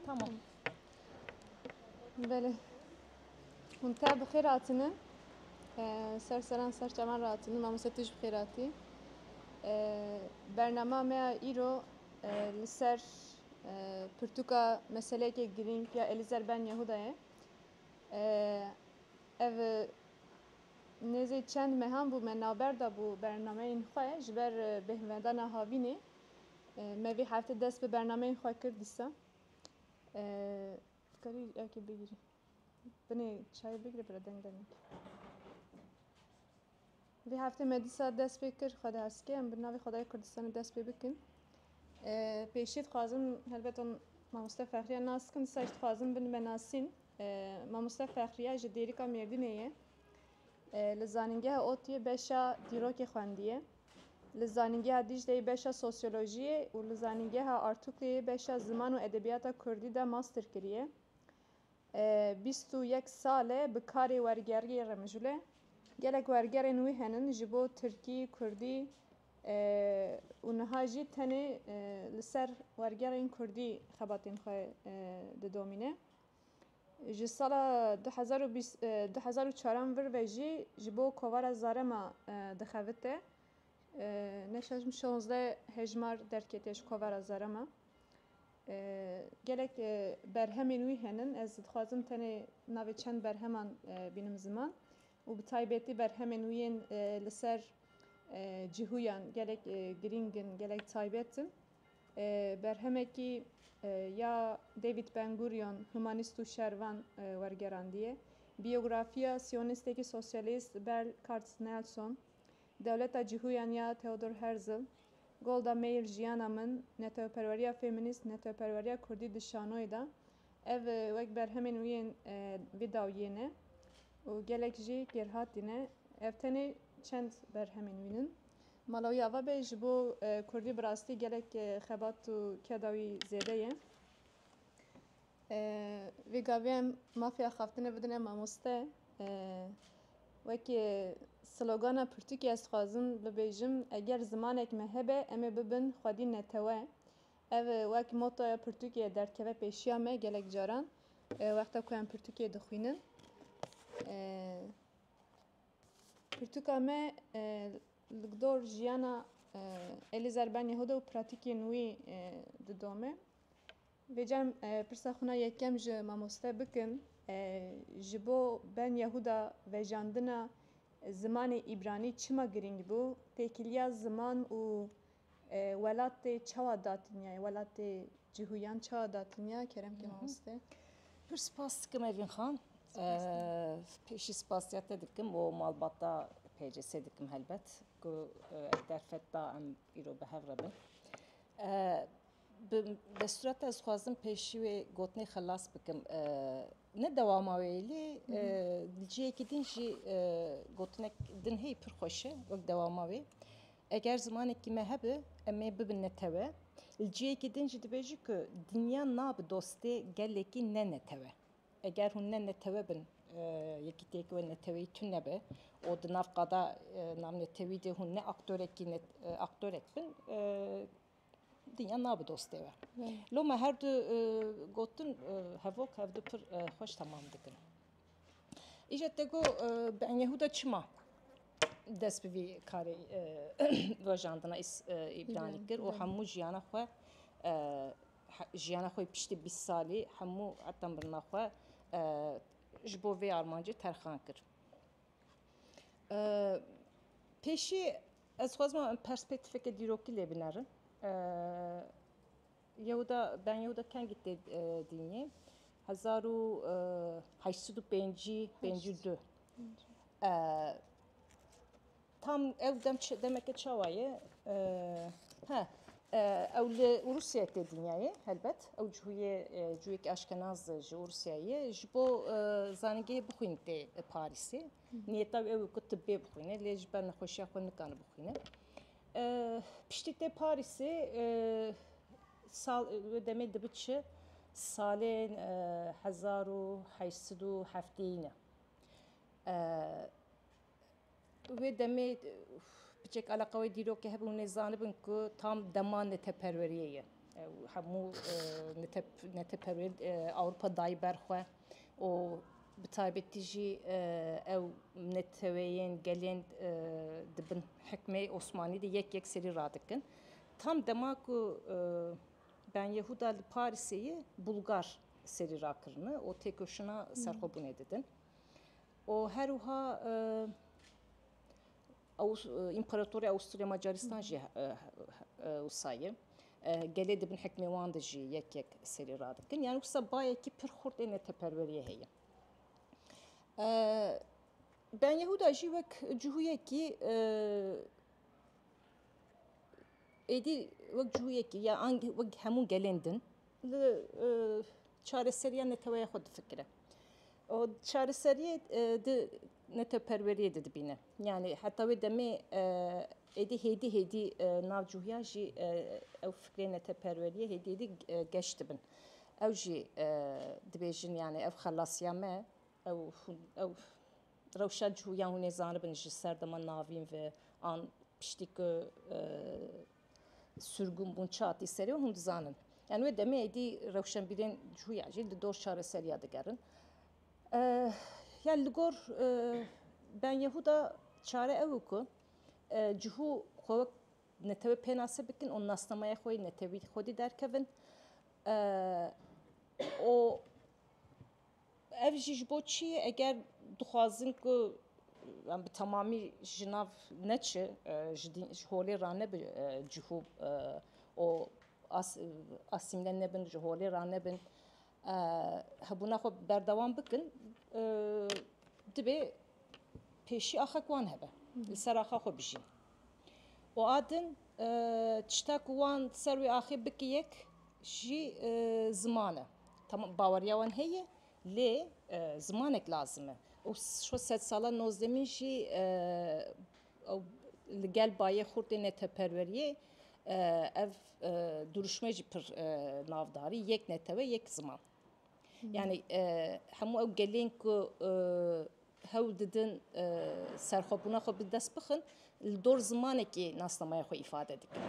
Tamam. Belê. Hûn te bi xêr hatine. Ser seran ser çavan rahatine. Mamoste tu jî bi xêr hatî. Bernama me ya îro li ser pirtûka meseleyekê girîng ya Elîzer Ben Yehuda ye. Ev nêzî çend mehan bû me navber dabû bernameyên xwe ji ber bêhnvedana havînê. Me vê hefte dest bi bernameyên xwe kir dîsa. Dikarî erkê bigirî. Binê çayê bigire bira deng dene. Vê hefte me dîsa dest pê kir xwe diheskê em bi navê Xwedayê Kurdistanê dest pê bikin. Pêşî dixwazim helbet on mamoste Fexriya nas dikim dîsa jî dixwazim bin me nasîn. Mamoste Fexriya ji Dêrika Mêrdînê ye. Li zanîngeha ODTUYê beşa dîrokê xwendiye. Li Zanîngeha Dîcleyê beşa Sosyolojiyê û li Zanîngeha Artûkleyê beşa Ziman û Edebiyata Kurdî de master kiriye. Bîst û yek sal e bi karê wergeriyê re mijûl e. Gelek wergerên wî henin ji bo Tirkî, Kurdî û niha jî tenê li ser wergerên Kurdî xebatên xwe didomîne. Ji sala du hezar û bîst du hezar û çaran vir ve jî ji bo kovara Zarema dixevite. Ne şaş min şonzdeh hejmar derketiye ji kovara Zarema. Gelek berhemên wî henin. Ez dixwazim tenê navê çend berheman bînim ziman û bi taybetî berhemên wî yên li ser cihûyan gelek girîng in, gelek taybet in. Berhemekî ya David Ben Gurion, Humanîst û Şervan wergerandiye. Biyografiya siyonîstekî sosyalîst Berl Kartz Nelson, Dewleta cihûyan ya Theodor Herzl, Golda Meir Jiyana min, Neteweperweriya femînîst, Neteweperweriya kurdî di şanoyê de ev wek berhemên wî yên vî dawiyê ne û gelek jî kêrhatî ne. Ev tenê çend berhemên wî in. Mala wî ava be ji bo kurdî bi rastî gelek xebat û keda wî zêde ye. Vê gavê em mafya xaftinê bidine mamoste. Wekî slogana pirtûkê ez dixwazim bibêjim eger zimanek me hebe em ê bibin xwedî netewe. Ev wek motoya pirtûkê derdkeve pêşiya me gelek caran wexta ku em pirtûkê dixwînin. Pirtûka me li gdor jiyana Elîzer Ben Yehuda û pratîkên wî didome. Vê cem pirsa xwina yekem ji mamoste bikim, ji bo Ben Yehuda vejandina zimanê îbranî çima girîng bû? Têkiliya ziman û Welatê çawa datinya ye? Welatê cihûyan çawa datinya ye? Kerem kê mamoste. Pir spas dikim Evîn Xan. Pêşî spasiya te dikim û malbata PCS'ê dikim helbet ku ev derfet da em îro bi hev re bin. Bi destûra te ez xwazim pêşî wê gotinê xelas bikim. Ne dewama wê lê li cihekî din jî gotinek din heye pir xweş e wek dewama wê. Eger zimanekî me hebe em ê bibin netewe. Li cihekî din jî dibêjin ku dinya nabe dostê gelekî ne netewe. Eger hûn ne netewe bin yekîtiyeke wê neteweyî tune be û di nav qada navnetewî de hûn ne aktorekî aktorek bin Dinya nabi dostê we. Lo me her du gotin hevok hev du pir xweş temam dikin. Îje te got bi Enyehûda çima dest bi vî karê rojandina îbranî kir û hemû jiyana xwe jiyana xwe piştî bîst salî hemû heta mirina xwe ji bo vê armancê terxan kir. Pêşî Ez xwezma perspektîfeke dîrokî lê binerim. Yehuda ben Yehuda kengî tê dînî hezar û heşt sed û pêncî pêncî û du. Tam ew dem demeke çawa ye he ew li Rûsya tê dinyayê helbet ew cihuyê cuyekî aşkenaz ji Rûsyayê ji bo zanîngehê bixwîn tê Parîsê. Niyeta wî ew bû ku tibbê bixwîne lê ji ber nexweşiya xwe nikane bixwîne. Piştî tê Parîsê sal wê demê dibi çi salên hezar û heşt sed û hefteyî ne. Wê demê piçek eleqa wê dîrokê hebû hûn ê zanibin ku tam dema neteperweriyê ye. Ew hemû neteperweriyên Ewropa dayî ber xwe. û bi taybetî jî ew neteweyên gelên di bin hikmê Osmanî de yek yek serî radikin. Tam dema ku Ben Yehuda li Parîsê ye Bulgar serî rakirine û têkoşîna serxwebûnê didin û her wiha Împaratorê Awusturya-Macaristan jî wisa ye. Gelê di bin hikmê wan de jî yek yek serî radikin. Yanî wisa bayekî pir xurt ê neteperweriyê heye. Ben Yehuda jî wek cihûyekî êdî wek cihûyekî ya wek hemû gelên din li çareseriya neteweya xwe difikire û çareseriyê di neteweperweriyê de dibîne. Yanî heta wê demê êdî hêdî hêdî nav cûhiyan jî ew fikrê neteweperweriyê hêdî hêdî geş dibin. Ew jî dibêjin yanî ev xelasiya me ew ew rewşa cûhiyan hûnê zanibin ji serdema navîn ve an piştî ku Surgun bûn çatî serê û hûn dizanin. Yani wê demê êdî rewşenbîrên cuya jî li dor çareseriya digerin. Yani li gor Ben Yehuda çare ew û ku cihû xwe wek netewê pênase bikin û nasnameya xwe yê netewî xwedî derkevin û Ev jî ji bo çi ye? Eger dixwazin ku em bi temamî ji nav neçi ji dîn ji holê ra nebi cihû û asîmle nebin ji holê ra nebin hebûna xwe berdewam bikin dibê pêşî axa wan hebe li ser axa xwe bijîn. û a din tişta ku wan ser wê axê bikiyek jî ziman e. Tamam baweriya wan heye lê zimanek lazim e û şo sedsala nozdemîn jî li gel bayê xurtê neteperweriyê ev dirûşme jî pir navdarî yek netewe yek ziman. Yani hemû ew gelên ku hewl didin serxwebûna xwe bi dest bixin li dor zimanekê nasnameya xwe îfade dikin.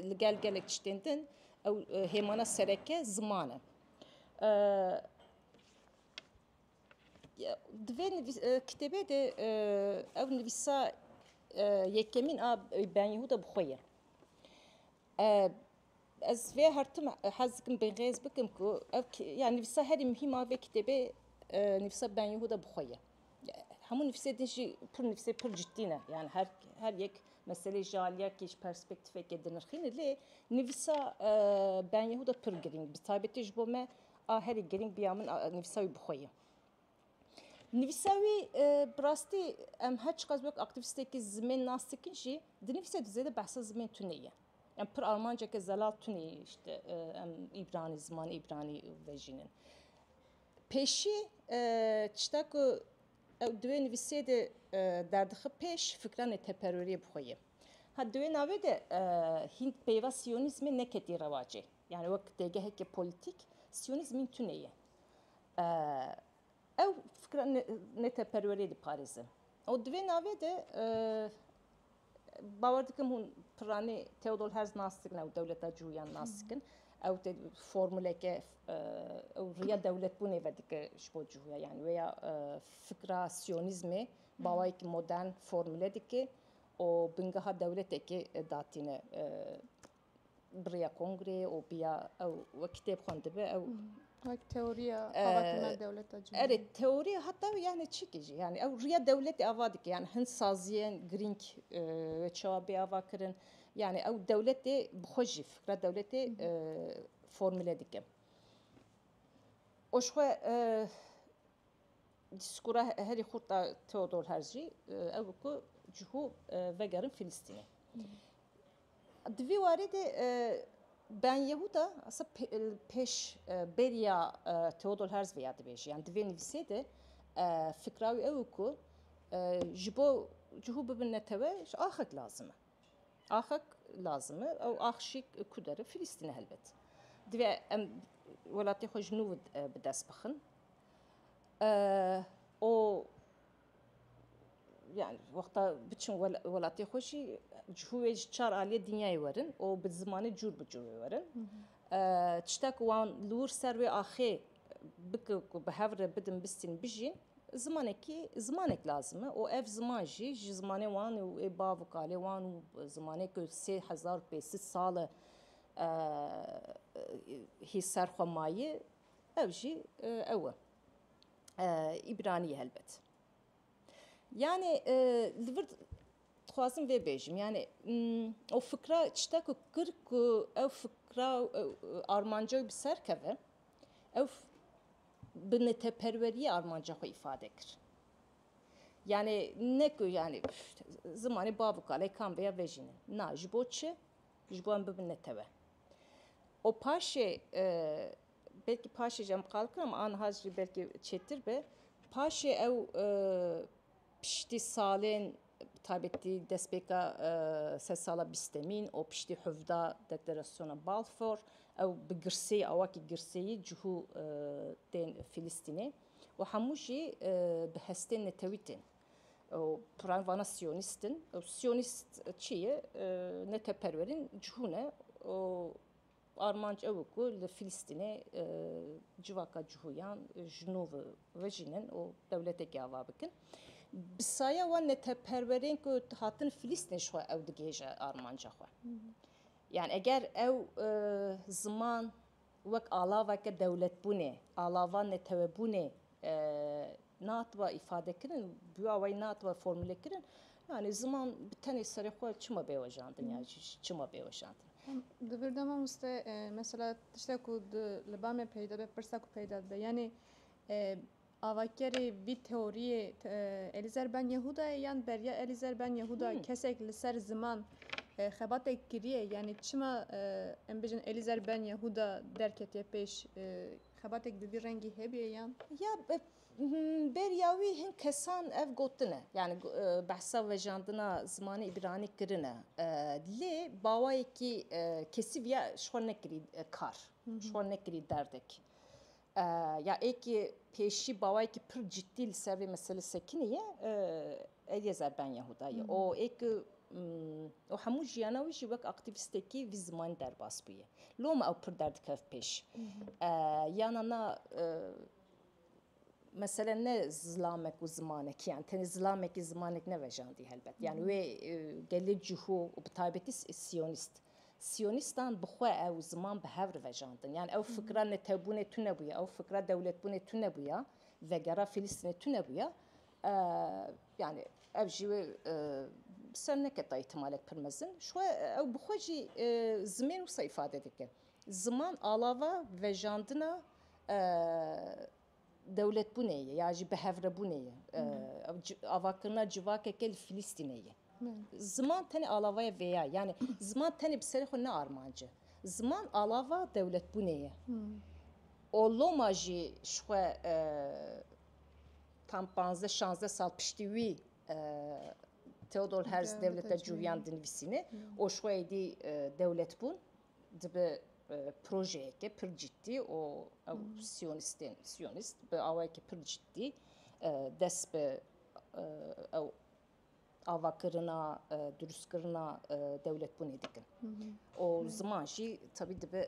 Li gel gelek tiştên din ew hêmana sereke ziman e. Di vê kitêbê de ew nivîsa yekemîn a Ben Yehuda bi xwe ye. Ez vê hertim hez dikim bêhêz bikim ku ev ya nivîsa herî muhîm a vê kitêbê nivîsa Ben Yehuda bi xwe ye. Hemû nivîsê din jî pir nivîsê pir ciddî ne. Yani her her yek meselê ji aliyekê ji perspektîfekê dinirxîne lê nivîsa Ben Yehuda pir girîng bi taybetî ji bo me a herî girîng bi ya min nivîsa wî bi xwe ye. Nivîsa wî bi rastî em her çiqas wek aktîvîstekî zimên nas dikin jî dinivîse tu zêde behsa zimên tunê ye. Em pir armanceke zelal tunê îşte em îbranî zimanê îbranî vejînin. Pêşî tişta ku ew di wê nivîsê de derdixip pêş fikranê teperweriyê bi xwe ye. Ha di wê navê de hîn peyva siyonîzmê neketî rewacê. Yanî wek têgeheke polîtîk siyonîzmîn tune ye. Ew fikra neteperweriyê diparêze. Û di vê navê de bawer dikim hûn piranî Theodor Herz nas dikin ew dewleta cûyan nas dikin. Ew tê formuleke ew riya dewletbûnê vedike ji bo cûya yan wê ya fikra siyonîzmê bawayekî modern formule dike û bingeha dewletekê datîne Biriya kongrê û biya ew we kitêb xwendibe ew Wek teoriya avakirina dewleta cumhuriyê. Erê teoriya heta yani çikî jî yani ew riya dewletê ava dike yani hin saziyên girîng wê çawa bê ava kirin yani ew dewletê bi xwe jî fikra dewletê formule dike. Û ji xwe dîskûra herî xurt a Theodor Herz jî ew ku cihû vegerin Filistînê. Di vî warî de Ben Yehuda li pêş bêriya Theodor Herzl ya dibêje yan di vê nivîsê de fikra wî ew e ku ji bo cihû bibin netewe ji axek lazim e. Axek lazim e ew ax jî ku dere Filîstîn e helbet. Divê em welatê xwe ji nû bi dest bixin û Yani wexta biçin welatê xwe jî cihû wê ji çar aliyê dinyayê werin û bi zimanê cûr bi cûr wê werin. Tişta ku wan li wir ser wê axê bikin ku bi hev re bidin bistîn bijîn zimanekî zimanek lazim e û ev ziman jî ji zimanê wan û wê bav û kalê wan û zimanê ku sê hezar û pêsîd sal e hî ser xwe mayî ew jî ew e. îbranî helbet. Yanê li vir dixwazim vê bêjim yanê ew fikra çita ku kir ku ew fikra armanca wî bi ser keve ew bi neteperweriyê armanca xwe îfade kir. Yanê ne ku yanê zimanê bav û kalê kam be ya vê jî ne. Na ji bo çi? Ji bo em bibin netewe. û paşê Belkî paşê jî em qal kirin ama aniha jî belkî çêtir be. Paşê ew piştî salên bi taybetî destpêka sed sala bîstemîn û piştî hevda Deklarasyona Balfour ew bi girseyî awakî girseyî cihû tên Fîlîstînê û hemû jî bi hestên netewî tên û pirayên vana siyonîst in. Siyonîst çi ye? Neteweperwerîn cihû ne û Armanc ew e ku li Filistînê civaka cihoyan ji nû vejînin û dewletekê ava bikin. Bi saya wan neteperwerên ku hatin Filistînê ji xwe ew digihêje armanca xwe. Yani eger ew ziman wek alaveke dewletbûnê, alava netewebûnê Natiba îfadekirin, bûya wê natiba formûlekirin. Yanî ziman bi tenê serê xwe çima bêwejandin ya jî çima bêwejandin? Di vir de mamoste mesela tiştek ku li ba me peyda dibe, pirsa ku peyda dibe yanî avakerê vî teoriyê Elîzer Ben Yehuda ye yan beriya Elîzer Ben Yehuda kesek li ser ziman xebatek kiriye yanî çima em bijin Elîzer Ben Yehuda derketiye pêş Xebatek bi vî rengî hebe yan? Ya beriya wî hin kesan ev gotine yani behsa vejandina zimanê îbranî kirine lê bawayekî kesî viya ji xwe nekirî kar ji xwe nekirî derdek ya êkî pêşî bawayekî pir cidî li ser vê mesele sekinî ye êdî ez erbenya Huda ye û êkî û hemû jiyana wî jî wek aktîvîstekî vî zimanî derbas bûye. Lo me ew pir derdikevt pêş. Yana na mesele ne zilamek û zimanek yan tenê zilamekî zimanek nevejandî helbet. Yan wê gelê cihû û bi taybetî siyonîst. Siyonîstan bi xwe ew ziman bi hev re vejandin. Yan ew fikra netewbûnê tune bûye, ew fikra dewletbûnê tune bûye, vegera Filîstînê tune bûye. Yanî ev jî wê bi ser neke ta îhtimalek pir mezin. Ji xwe ew bi xwe jî zimên wisa îfade dike. Ziman alava vejandina dewletbûnê ye ya jî bihevrebûnê ye. Avakirina civakeke li Filîstînê ye. Ziman tenê alavaya vê ya ye. Yanî ziman tenê bi serê xwe ne armanc e. Ziman alava dewletbûnê ye. Û loma jî ji xwe Tam panzdeh şanzdeh sal piştî wî Theodor Herz dewleta cûhîyan dinivîsîne û ji xwe êdî dewletbûn dibe projeyeke pir ciddî û ew siyonîstên siyonîst bi awayeke pir ciddî dest bi ew avakirina durustkirina dewletbûnê dikin û ziman jî tevî dibe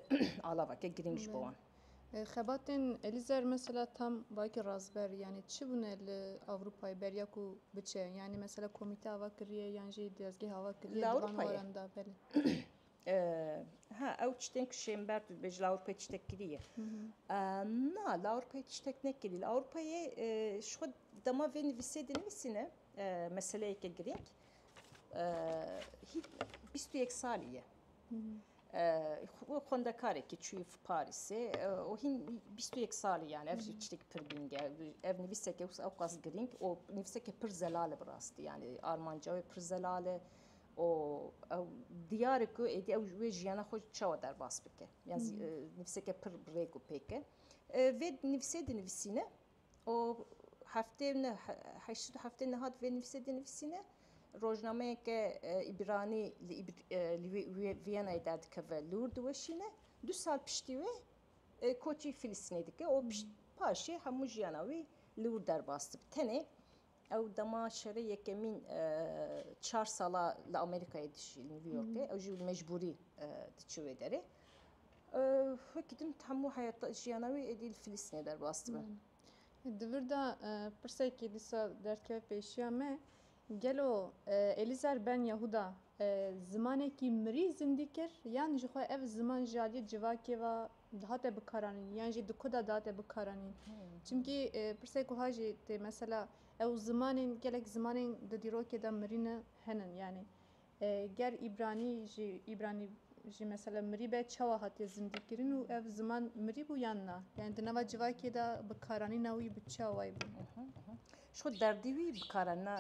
alaveke girîng ji bo wan. Xebatên Elizer mesela tam wayekî razber yanî çi bûne li Ewropayê beriya ku biçe yanî mesela komîte ava kiriye yan jî dezgeh ava kiriye di van waran de belê. Ha ew tiştên ku Şênber tu dibêjî li Ewropayê tiştek kiriye. Na li Ewropayê tiştek nekiriye. Li Ewropayê ji xwe dema vê nivîsê dinivîsîne meseleyeke girîng bîst û yek salî ye. Xwendekarekî çûye Parîsê û hîn bîst û yek salî yan ev jî tiştekî pir girîng e. Ev nivîseke ewqas girîng û nivîseke pir zelal e bi rastî yanî armanca wê pir zelal e. û ew diyar e ku êdî ew wê jiyana xwe çawa derbas bike ya nivîseke pir bi rêk û pêk e. Vê nivîsê dinivîsîne û heftê heşt du heftê nehat vê nivîsê dinivîsîne rojnameyeke îbranî li Vîyenayê derdikeve lûr diweşîne du sal piştî wê koçî Filistînê dike û paşê hemû jiyana wî lûr derbas dibe tenê Ew dema şerê yekemîn çar sala li Amerîkayê dijî li New Yorkê. Ew jî mecbûrî diçi wê derê. Wekî din hemû heyata jiyana wî êdî li Filîstînê derbas dibe. Di vir de pirsekî dîsa derdkeve pêşiya me. Gelo Elîzer Ben Yehuda zimanekî mirî zindî kir yan jixwe ev ziman ji aliyê civakê ve Dihate bikaranîn yan jî di ku de dihate bikaranîn. Çimkî pirsek wiha jî tê mesela ew zimanên gelek zimanên di dîrokê de mirî ne henin yanî ger îbranî jî îbranî jî mesela mirî be çawa hatiye zindîkirin û ev ziman mirî bû yan na yanî di nava civakê de bikaranîna wî bi çawayî bû. Ji xwe derdî wî bikaranîna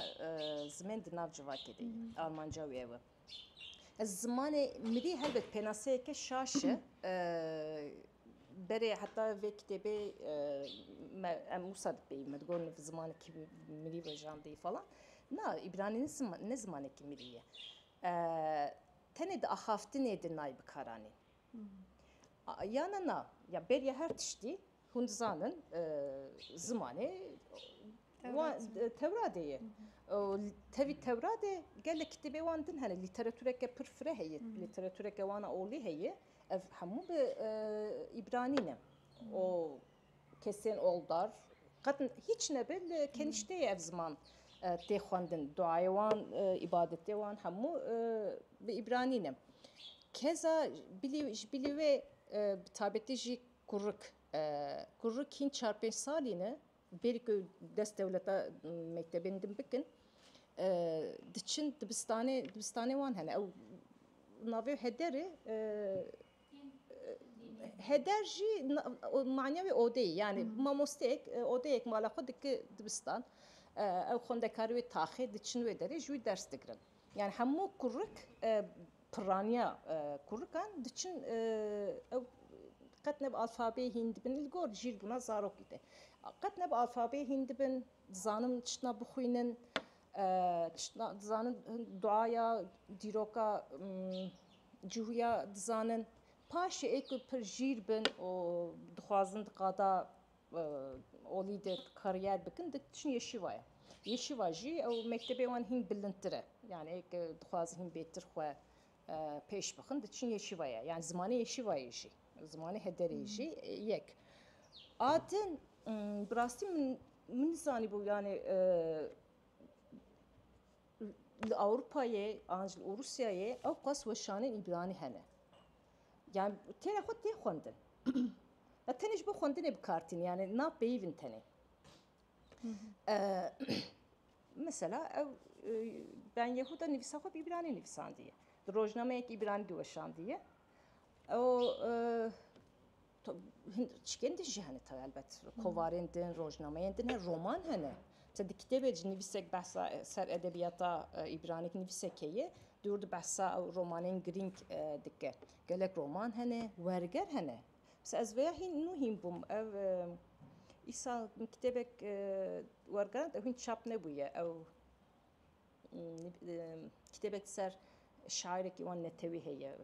zimên di nav civakê de ye. Armanca wî ew e. Zimanê mirî helbet pênaseyeke şaş e. Berê heta vê kitêbê me em wisa dipeyî me digot niv zimanekî mirî vejandî falan. Na îbranî ne zimanekî mirî ye. Tenê di axaftinê de nayê bikaranîn. Ya na na ya beriya her tiştî Hûn dizanin zimanê wan Tewradê ye. Tevî Tewradê gelek kitêbê wan din hene. Lîteratûreke pir fire heye. Lîteratûreke wana olî heye. Ev hemû bi îbranî ne. O kesên oldar qet hîç nebe li kenîşteyê ev ziman tê xwendin. Duayê wan, îbadetê wan hemû bi îbranî ne. Keza bilî ji bilî wê bi taybetî jî Kurik, Kurik hîn çar pênc salî ne bêrî ku dest dewleta mektebên din bikin diçin dibistanê dibistanê wan hene ew navê hederê heder jî manya wê odeyê yanî mamosteyek odeyek mala xwe dike dibistan ew xwendekarê wê taxê diçin wê derê ji wî ders digirin. Yan hemû kurik pirraniya kurikan diçin ew qet ne bi alfabeyê hîn dibin li gor jî li bûna zarokî te qet ne bi alfabeyê hîn dibin dizanin tiştna bixwînin tiştna dizanin duaya dîroka cihûya dizanin paşê ê ku pir jîr bin û dixwazin di qada olî de karîyer bikin diçin Yeşîva ye. Yeşîva jî ew mektebê wan hîn bilindtir e. Yanî eke dixwazin hîn bêtir xwe pêş bixin diçin Yeşîva ye. Yanî zimanê Yeşîvayê jî zimanê hederê jî yek. A din bi rastî min min nizanîbû yanî li Ewropayê an jî li Rûsyayê ew qas weşanên îbranî hene. Yani têra xwe tê xwendin. ya tenê ji bo xwendinê bi kar tîn yani na peyivin tenê. Mesela ew ben Yehuda nivîsa xwe bi îbranî nivîsandiye. Di rojnameyek îbranî diweşandiye. Ew Hin çikên din jî hene te elbet. Kovarên din, rojnameyên din hene, roman hene. Te di kitêbê cî nivîsek behsa ser edebiyata îbranîk nivîsekê ye, dûr di behsa ew romanên girîng dike. Gelek roman hene, werger hene. Mesela ez vêya hîn nû hîn bûm. Ev îsal min kitêbek wergerand ew hîn çap nebûye. Ew Kitêbek ser şairekî wan netewî heye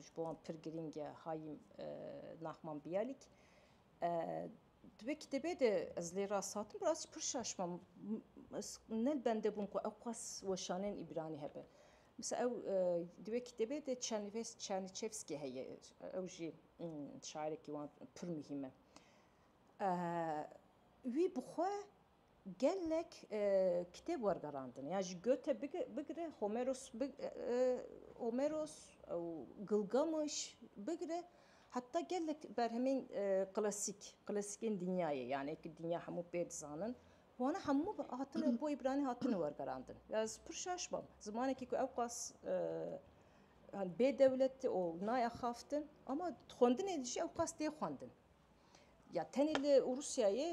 ji bo wan pir girîng e Hayîm Nahman Biyalîk. Di vê kitêbê de ez lê rasatim rast jî pir şaş bûm. Ez ne li bende bûm ku ew qas weşanên Îbranî hebe. Misal ew di vê kitêbê de Çerniçevskî heye ew jî şairekî wan pir muhîm e. Wî bi xwe Gelek kitêb wergerandin ya ji Goethe bigire Homeros Homeros û Gilgameş bigire heta gelek berhemên klasîk klasikên dinyayê yanê ku dinya hemû pê dizanin wana hemû hatine bo îbranî hatine wergerandin. Ya ez pir şaş bam zimanekî ku ewqas bêdewlet û nayexaftin ama di xwendinê de jî ewqas tê xwendin. Ya tenê li Rûsyayê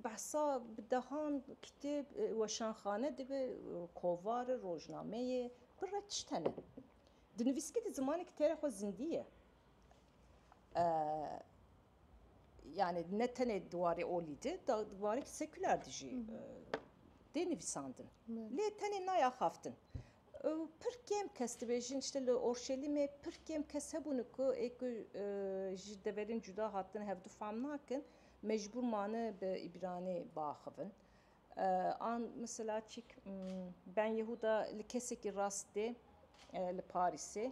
behsa bi dehan kitêb, weşanxane dibe, kovar, rojnameyê bi re tişt hene. Di nivîskî di zimanekî têra xwe zindî ye. Yani ne tenê di warê olî di, di warê sekûler di jî tê nivîsandin. Lê tenê nayaxaftin. Pir kêm kes dibêjin îşte li Orşelîmê pir kêm kes hebûne ku ê ku ji deverên cuda hatine hev du fam nakin mecbûr mane bi îbranê biaxivin. An mesela çîk Ben Yehuda li kesekî rast tê li Parîsê.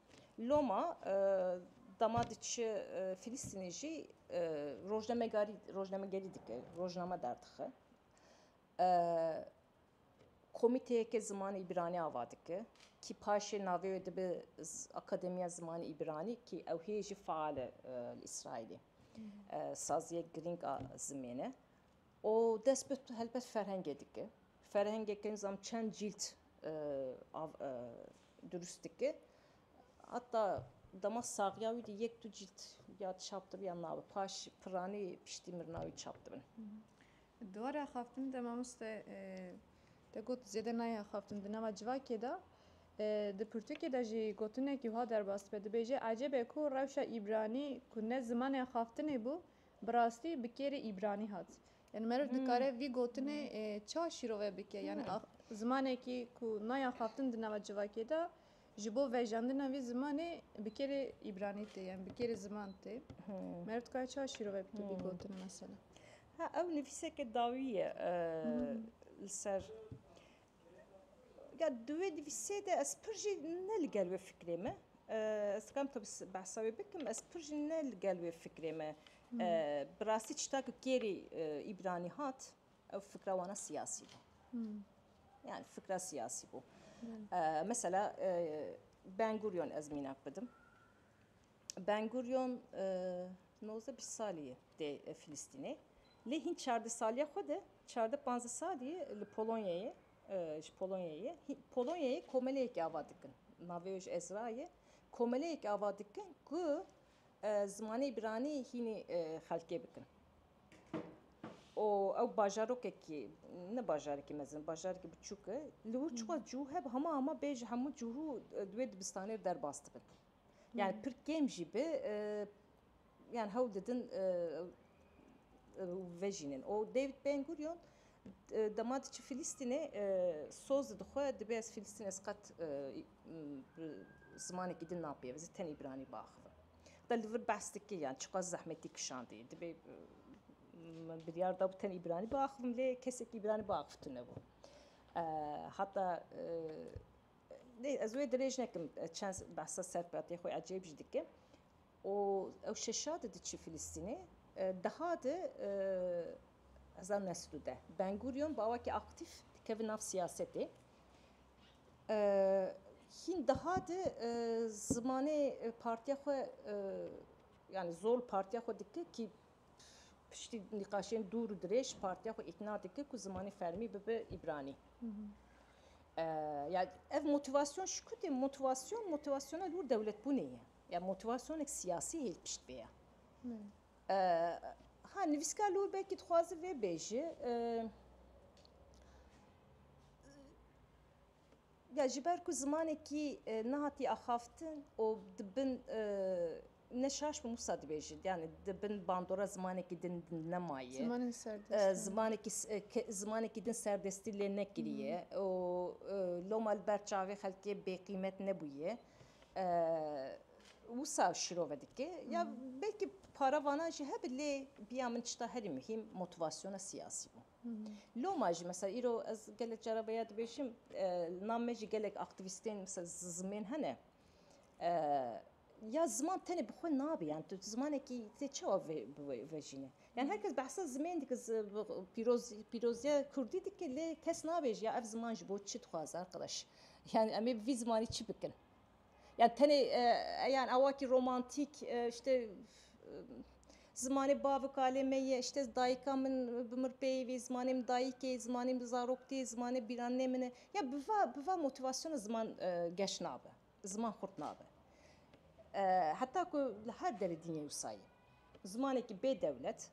Loma dema diçi Filîstînê jî rojnamegarî rojnamegerî dike, rojname derdixe. Komîteyeke zimanê îbranî ava dike. Kî paşê navê wê dibe Akademiya Zimanê Îbranî kî ew hê jî faal e li Îsraîlê. Saziyek girîng a zimêne. û dest bi helbet ferhengê dike. Ferhengeke nizam çend cîld durust dike. Heta dema saxiya wî de yek du cîld ya çap dibiya nabe paş piranî piştî mirina wî çap dibin. Dware axaftin de mamoste te got zêde nayê axaftin di nava civakê de di pirtûkê de jî gotinekî wiha derbas dibe dibêje ecêb e ku rewşa îbranî ku ne zimanê axaftinê bû bi rastî bi kêrê îbranî hat. Yani merov dikare vî gotinê ça şîrove bike? Yani zimanekî ku naya xaftin di nava civakê de ji bo vejandina vî zimanê bi kêrê îbranî tê yan bi kêrê ziman tê. Merov dikare ça şîrove bike vî gotinê mesela? Ha ew nivîseke dawî ye li ser Ya di wê nivîsê de ez pir jî ne li gel wê fikrê me. Ez dikarim tabi behsa wê bikim. Ez pir jî ne li gel wê fikrê me. Bi rastî çita ku kêrî Îbranî hat ew fikra wana siyasî bû. Yani fikra siyasî bû. Mesela Ben Gurion ez mînak bidim. Ben Gurion nozde bîst salî ye tê Filistînê. Lê hîn çardeh saliya xwe de, çardeh panzdeh salî ye li Polonyayê ji Polonyayê ye. Polonyayê komeleyekê ava dikin. Navê wê ji Ezra ye. Komeleyekê ava dikin ku zimanê îbranî hînî xelkê bikin. û ew bajarokekî ne bajarekî mezin bajarekî biçûk e. Li wir çiqas cû hebe hema hema bê ji hemû cû divê dibistanê derbas dibin. Yani pir kêm jî bi yani hewl didin vejînin. O David Ben Gurion dema diçi Filîstînê soz dixwe dibê ez Filîstîn ez qet zimanekî din napê ez tenê îbranî biaxivim. Da li vir behs dike yani çiqas zehmetî kişandî dibê min biryar da tenê îbranî biaxivim lê kesekî îbranî biaxivtine bû. Heta Lê ez wê dirêj nekim çend behsa serpatê xwe ecêb jî dike û ew şeşa di diçî Filistînê deha di hezar neh sed û deh Ben Gurion bi awakî aktîf dikeve nav siyasetê hîn deha di zimanê partiya xwe yanî zor partiya xwe dike kî piştî nîqaşên dûr û dirêj partiya xwe îkna dike ku zimanê fermî bibe Îbranî. Ya ev motivasyon ji ku tê motivasyon motivasyona li wir dewletbûnê ye. Ya motivasyonek siyasî hê li pişt vê ye. Ha nivîskar li wir belkî dixwaze vê bêje ya ji ber ku zimanekî nehatiye axaftin û di bin Ne şaş bûm wisa dibêjin yanî di bin bandora zimanekî din nemaye. Zimanên serdest in. Zimanekî zimanekî din serdestî lê nekiriye û loma li ber çavê xelkê bêqîmet nebûye. Wisa şirove dike ya belkî para vana jî hebe lê biya min tişta herî muhîm motivasyona siyasî bû. Loma jî mesela îro ez gelek cara vêya dibêjim li nav me jî gelek aktivîstên zizmên hene. Ya ziman tenê bi xwe nabê yan tu zimanekî tê çawa vejîne. Yan her kes behsa zimên dike pîroziya kurdî dike lê kes nabêj ya ev ziman ji bo çi dixwaze arqedaş. Yan em ê bi vî zimanî çi bikin. Yan tenê yan awakî romantîk îşte zimanê bav û kalê me ye îşte dayika min bi mir peyivî vî zimanê min dayikê zimanê min zarok tê zimanê bîranê min e ya bi va bi va motîvasyona ziman geş nabe. Ziman xurt nabe. Heta ku li her derê dînê wisa ye. Zimanekî bê dewlet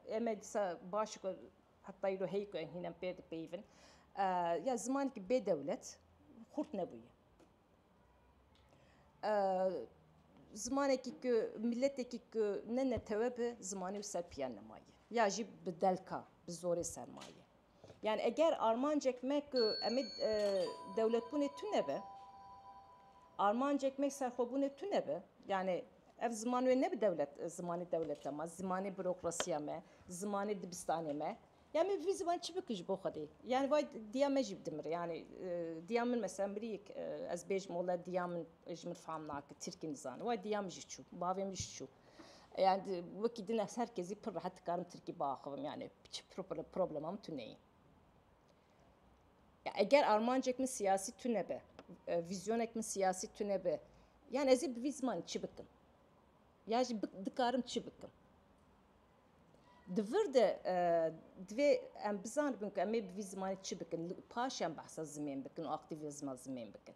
em ê dîsa baş ku heta îro heyî ku em hîn pê dipeyivin ya zimanekî bê dewlet xurt nebûye. Zimanekî ku miletekî ku ne netewe be zimanê wisa piya nemaye ya jî bi delka bi zorê ser maye. Yani eger armancek me ku em ê dewletbûnê tune be, armancek me serxwebûnê tune be. Yani ev ziman wê nebe dewlet zimanê dewleta me, zimanê bürokrasiya me, zimanê dibistanê me. Yani min bi vî ziman çi bikim ji bo Xwedê? Yani vay diya me jî bidimire. Yani diya min mesela miriyek ez bêjim wele diya min ji min fam nake, tirkî nizane. Vay diya min jî çû, bavê min jî çû. Yani wekî din ez her kezî pir rehet dikarim Tirkî biaxivim yani çi problema min tu neyê. Ya eger armancek min siyasî tu nebe, e, vizyonek min siyasî tu nebe, yani ez ê bi vî zimanî çi bikim? Ya jî dikarim çi bikim? Di vir de e, divê em bizanibin ku em ê bi vî zimanî çi bikin, paş em behsa zimên bikin û aktivizma zimên bikin.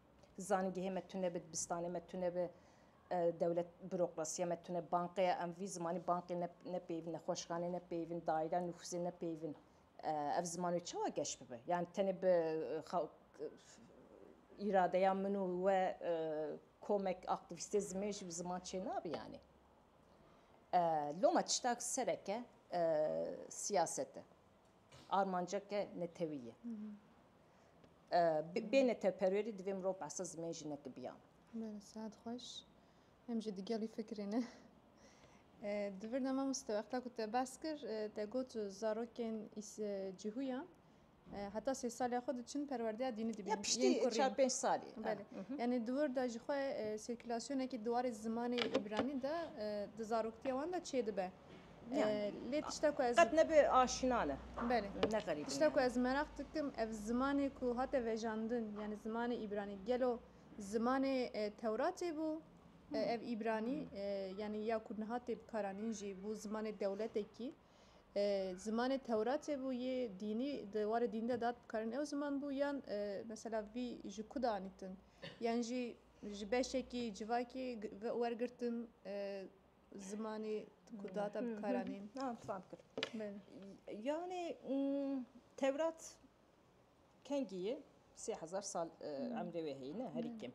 Zanîngehê me tune bi, dibistanê me tune bi, dewlet bürokrasiya me tune, bankeya em vî zimanî bankê ne nepeyivîn, nexweşxanê nepeyivîn, daîreya nufuzê nepeyivîn. Ev ziman wê çawa geş bibe? Yanî tenê bi îradeya min û we komek aktîvîstê zimê jî bi ziman çênabi yanî. Loma tiştak sereke siyaset e. Armanceke netewî ye. Bê netewperwerî divê mirov behsa zimên jinekî biya. Bere saet xweş. Em jî digelî fikrê ne. Di vir de mamoste wexta ku te behs kir te got zarokên cihûyan heta sê salya xwe diçin perwerdeya dînî dibîn. Ya piştî çar pênc salî. Belê. Yanî di wir de jixwe sirkulasyonekî di warê zimanê îbranî de di zaroktiya wan de çêdibe. Yani lê tişta ku ez qet nebe aşina ne. Belê. Ne xerîb. Tişta ku ez meraq dikim ev zimanê ku hate vejandin yani zimanê îbranî gelo zimanê Tewratê bû? Ev îbranî yani ya ku niha tê bikaranîn jî bû zimanê dewletekî zimanê Tewratê bû yê dînî di warê dîn de dat bikarin ew ziman bû yan mesela vî ji ku de anîtin yan jî ji beşekî civakê wergirtin Zimanê ku data bi kar anîn. Ha, fam kir. Yanê Tewrat kengî ye, sê hezar sal emrê wê heye ne herî kêm.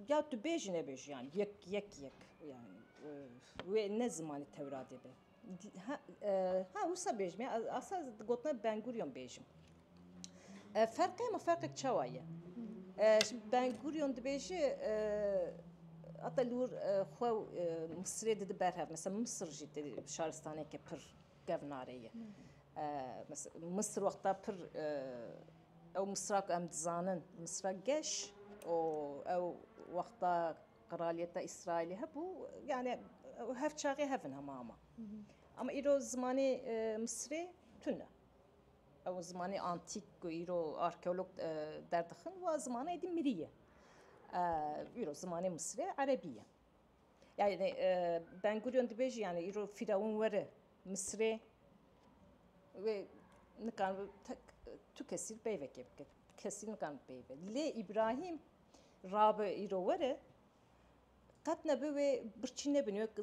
Ya tu bêjî nebêjî yan yek yek yek yan wê ne zimanê Tewradê be. Ha wisa bêjim ya asa gotine benguriyon bêjim. Ferqê ma ferqek çawa ye? Benguriyon dibêji hata lûr xwe Misirê didi berhev mesela Misir jî şaristaneke pir kevnare ye. Misir wexta pir ew Misira ku em dizanin Misira geş û ew wexta Qraliyeta Îsraîlê hebû yanî ew hev çaxê hev in hema hema. Ama îro zimanê Misirê tune. Ew zimanê antîk ku îro arkeolog derdixin wa zimana êdî mirî ye. Îro zimanê Misirê Erebî ye. Yani Ben Gurion dibêjî yani îro fîrawin were Misirê wê nikan tu kesî peyvekê bike. Kesî nikan peyve. Lê Îbrahîm Rabe îro were qet nebe wê birçî nebin wek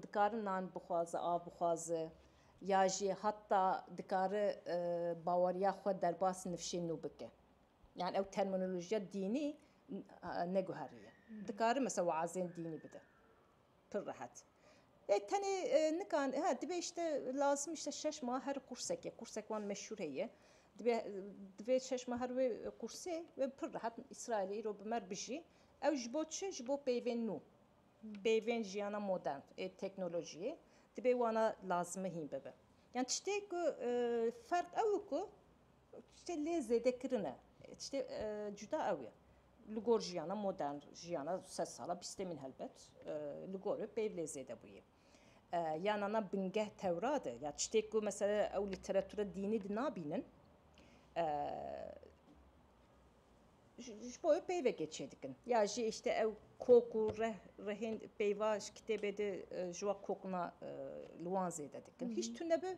dikare nan bixwaze, av bixwaze ya jî heta dikare baweriya xwe derbas nifşê nû bike. Yani ew terminolojiya dînî neguheriye. Dikare mesela weazên dînî bide. Pir rehet. Lê tenê nika he dibê îşte lazim îşte şeş ma her qûrseke, qûrsek wan meşhûr heye. Dibê dibê şeş ma her wê qûrsê wê pir rehet Îsraîlê îro bi mer bijî. Ew ji bo çi? Ji bo peyvên nû. Peyvên jiyana modern ê teknolojiyê dibê wana lazimi hîn bibe. Yan tiştê ku ferq ew ku Tiştê lê zêde kirin e. Tiştê cuda ew ye. Li gor jiyana modern, jiyana sed sala bîstê min helbet li gor e peyv lê zêde bûye. Ya nana bingeh Tewrat e ya tiştê ku mesela ew lîteratura dînî di nabînin ji bo ew peyvekê çêdikin. Ya jî îşte ew kok û reh rehên peyva ji kitêbê de ji wa kokna li wan zêde dikin. Hîç tune bi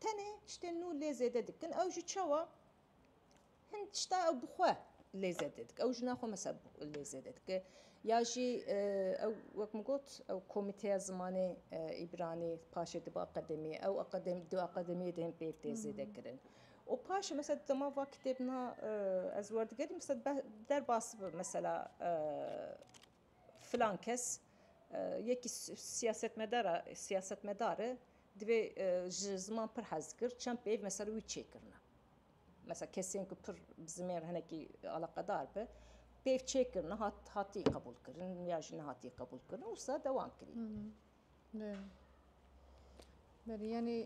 Tenê tiştên nû lê zêde dikin ew jî çawa? Hin tişta ew bi xwe lê zêde dike. Ew jina xwe mesela lê zêde dike. Ya jî ew wek min got ew komîteya zimanê îbranî paşê dibe akademiyê. Ew akademî di akademiyê de hên pêv tê zêde kirin. Û paşê mesela di dema va kitêbina ez werdigerîm mesela di derbas mesela Filan kes yekî siyasetmedara siyasetmedar e divê ji ziman pir hez dikir çend pêv mesela wî çêkirine. Mesela kesên ku pir bi zimên hinekî eleqedar be pêv çêkirine hat hatî qebûlkirin ya jî nehatî qebûlkirin wisa dewam kirî. Belê yanî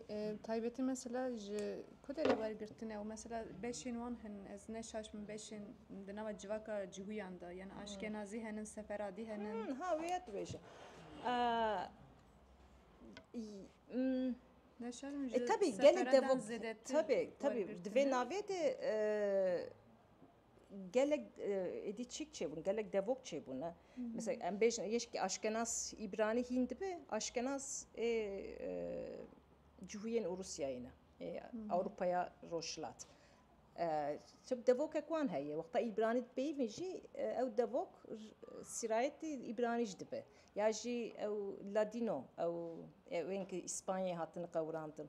taybetî mesela ji ku derê wergirtine û mesela beşên wan hene ez neşaşm beşên di nava civaka cihûyan de yan aşkenazî hene seferadî hene. Ha wê ya dibêje tebî gelê dev tebî di vê navê de gelek êdî çîk çêbûn gelek devok çêbûn e mesela em bêjin yeşkî aşkenas îbranî hîn dibe aşkenas ê cihûyên ûrûsyayê ne ê ewropaya rojhilat çi devokek wan heye wexta îbranî peyivîn jî ew devok sîrayetî îbranî ji dibe ya jî ew ladîno ew ewên ku îspanyayê hatine qewirandin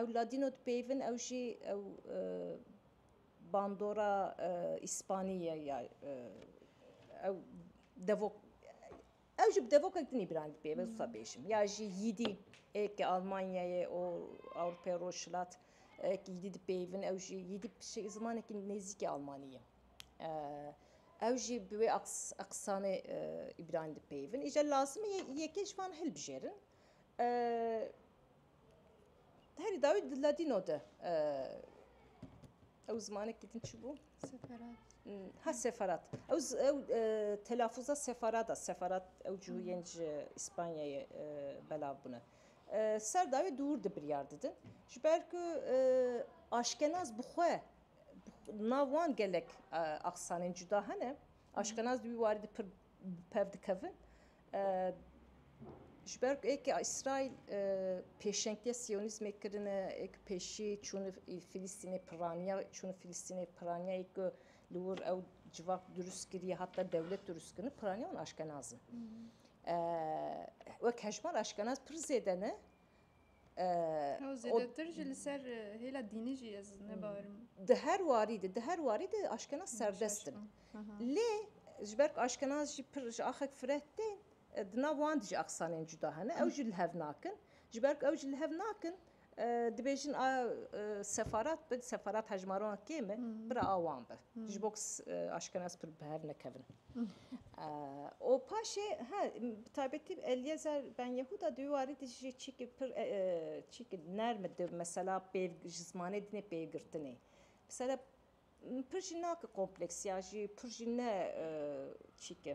ew ladîno dipeyivin ew jî ew bandora îspanî ye ya ew devok ew jî bi devokek din îbranî dibê vê wisa bêjim ya jî yîdî ê ke Almanyayê û Ewropayê Rojhilat yîdî dipeyivin ew jî yîdî bi zimanekî nêzîkî Almanî ye ew jî bi wê eqisanê îbranî dipeyivin îcar lazim e yekê ji wan hilbijêrin Herî dawî di ladîno de ew zimanekî din çi bû? Ha seferat. Ew ew telafuza seferada seferat ew cihûyên ji İspanyayê belav bûne. Ser dawî dûr di biryar didin. Ji ber ku aşkenaz bi xwe nav wan gelek aksanên cuda hene. Aşkenaz di wî warî di pir bi pev dikevin. Ji ber ku êkê Îsraîl pêşengtiya siyonîzmê kirine, êk pêşî çûne Filîstînê piraniya, çûne Filîstînê piraniya yê ku li wir ew civak dirust kiriye heta dewlet dirust kirine piraniya wan aşkenaz in. Wek hejmar aşkenaz pir zêde ne. Ew zêdetir jî li ser hêla dînî jî ez ne bawer im. Di her warî de di her warî de aşkenaz serdest in. Lê ji ber ku aşkenaz jî pir ji axek fireh tên di nav wan de jî axisanên cuda hene ew jî li hev nakin. Ji ber ku ew jî li hev nakin dibêjin a sefarat bi sefarat hejmaran kêm e bira a wan be ji bo ku aşkenaz pir bi hev nekevin. Û paşê he bi taybetî Elyezer Ben Yehuda di wî warî de jî çîkî pir çîkî nerm e di mesela pêv ji zimanê dinê pêvgirtinê. Mesela pir jî nake kompleks ya jî pir jî ne çîke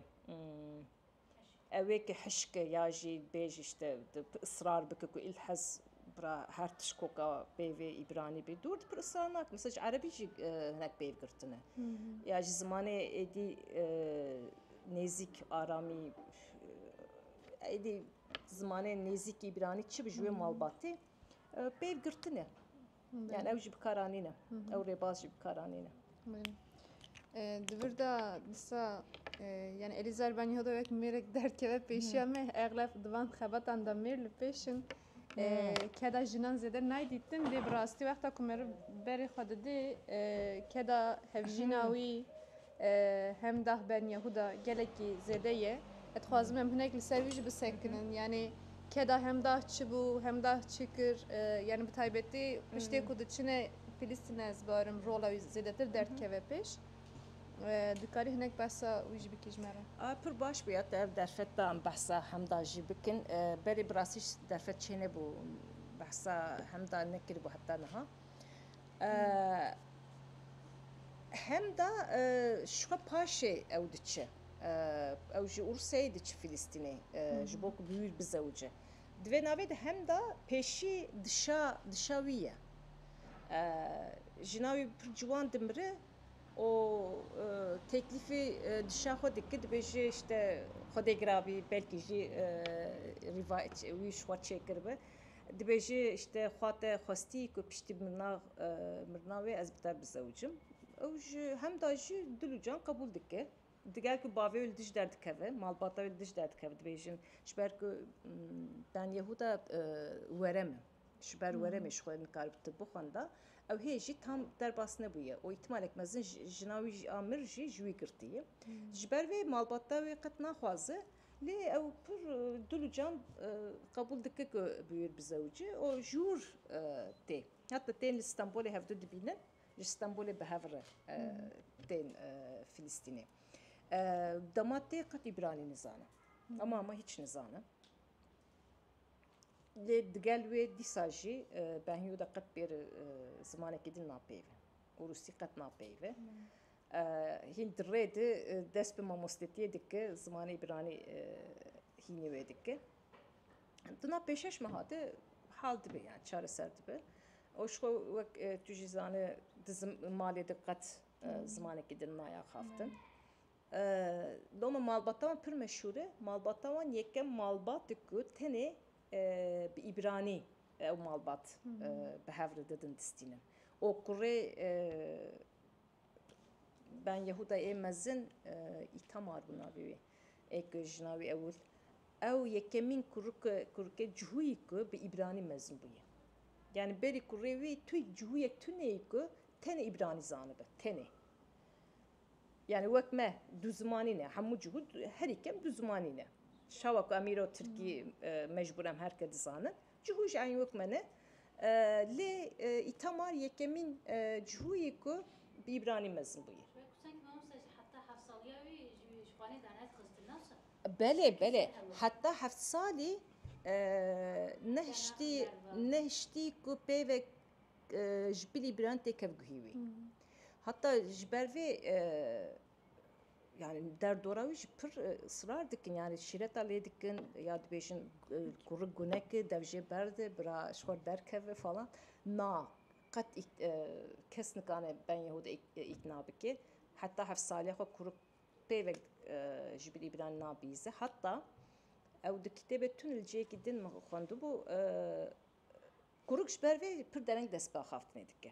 ewê ke hişke ya jî bêje îşte israr bike ku îl hez Bira her tişt ku ka peyvê îbranî bê dûr dikir israr nakim. Misal ji erebî jî hinek peyv girtin e. Ya ji zimanê êdî nêzîk aramî êdî zimanê nêzîk îbranî çi bi ji wê malbatê peyv girtin e. Yani ew jî bi kar anîne. Ew rêbaz jî bi kar anîne. Di vir de disa yani Elîza Erbenî hota wek mêrek derdkeve pêşiya me eglef di van xebatan de mêr li pêş in. Keda jinan zêde nayê dîtin lê bi rastî wexta ku meriv berê xwe didê keda hevjîna wî Hem dax ben Yehuda gelekî zêde ye. Ez dixwazim em hinek li ser wî jî bisekinin. Yanî keda hem dax çi bû, hem dax çi kir, yanî bi taybetî piştê ku diçine Filistîne ez barim rola wî zêdetir derdikeve pêş. Dikarî hinek behsa wî jî bikî ji me re? A, pir baş bû ya tu ev derfet da em behsa Hemda jî bikin. Berê bi rastî derfet çênebû behsa Hemda nekiribû heta niha. Hemda şixwe paşê ew diçe. Ew ji Urseyê diçe Filistînê ji bo ku bi wî bizewce. Di vê navê de hemda pêşî dişa dişa wî ye. Jina wî pir ciwan dimire û têklîfê dişa xwe dike dibêje îşte Xwedê girabî belkî jî rîvayet wî ji xwe çêkiribe. Dibêje işte xwe te xwestî ku piştî mirina wê ez bi te bizewicim. Ew ji hemda jî dil û can qebûl dike. Diger ku bavê wê li dij derdikeve, malbata wê li dij derdikeve dibêjin ji ber ku ben Yehuda werem e, ji ber weremê ji xwe nikaribû tib bixwenda. Ew hê jî tam derbas nebûye û îhtimalek mezin jina wî a mir jî ji wî girtiye. Ji ber vê malbata wê qet naxwaze Lê ew pir dil û can qebûl dike ku Bûyur bi zewicê û jûr tê. Heta tên li Stenbolê hevdu dibînin, ji Stenbolê bi hev re tên Filistînê. Dema tê qet Îbranî nizane. Hema hema hîç nizane. Lê digel wê dîsa jî Benhiyû de qet pêr zimanekî din napeyve û Rûsî qet napeyve. Hîn di rê di dest bi mamostetiyê dike, zimanê îbranî hînî wê dike. Di nav pêşeş me hate hal dibe yani çareser dibe. Û ji wek tu jî zane di malê de qet zimanekî din naya xaftin. Loma malbata wan pir meşhûr e. Malbata wan yekem malbat e ku tenê bi îbranî ew malbat bi hev re didin distînin. Okurê Ben Yehuda yê mezin Îtamar bû navê wê. Ê ku jina wî ewil. Ew yekemîn kurike kurikê cihûyî ku bi îbranî mezin bûye. Yanî berî kurê wî tu cihûyek tuneyî ku tenê îbranî zanibe. Tenê. Yanî wek me du zimanî ne. Hemû cihû herî kem du zimanî ne. Çawa ku em îro tirkî mecbûr em her ke dizanin. Cihû ji Eynûk me ne. Lê Îtamar yekemîn cihû yê ku bi îbranî mezin bûye. Belê belê heta heft salî nehiştî nehiştî ku peyve ji bilî îbranî tê kevguhî wî. Heta ji ber vê yani derdora wî jî pir israr dikin yani şîreta lê dikin ya dibêjin kurik guneki dev jê berde bira ji xwe derkeve falan na qet kes nikane ben yehû de îkna bike heta heft saliya xwe kurik pêvek ji bin îbran nabîze heta ew di kitêbê tun li cihekî din min xwendibû kurik ji ber vê pir dereng dest bi axaftinê dike.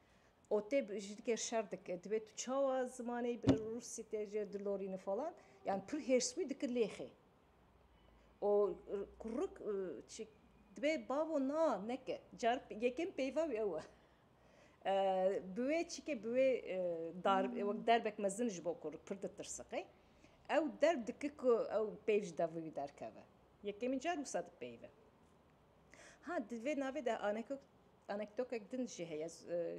O tê bi ji diker şer dike. Dibe tu çawa zimanê bi Rûsî te jê dilorîne falan. Yani pir hêrs wî dike lêxê. O kuruk çi dibe bavo na neke. Car yekem peyva wî ew e. Bi wê çike bi wê dar wek derbek mezin ji bo kuruk pir ditirsiqe. Ew derb dike ku ew peyv ji devî wî derkeve. Yekemîn car wisa dipeyve. Ha di vê navê de anektokek din jî heye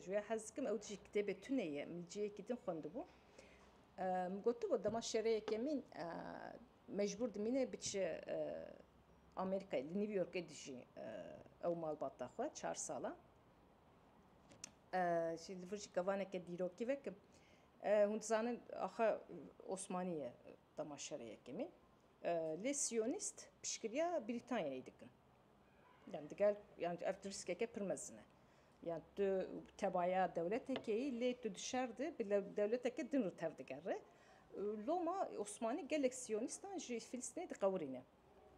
ji wê hez dikim ew dijî kitêbê tunê ye min ciyekî din xwendibû min gotibû dema şerê yekemîn mecbûr dimîne biçe Amerîkayê li New Yorkê dijî ew malbata xwe çar sala jî li vir jî kevaneke dîrokî vekim hûn dizanin axe Osmanî ye. Dema şerê yekemîn lê siyonîst piştgiriya Brîtanyayê dikin. Yan digel yan ev tu riskeke pir mezin e. Yan tu tebaya dewletekê yî lê tu di şer de bi dewleteke din re tev digere. Loma Osmanî gelek siyonîstan ji Filistînê diqewirîne.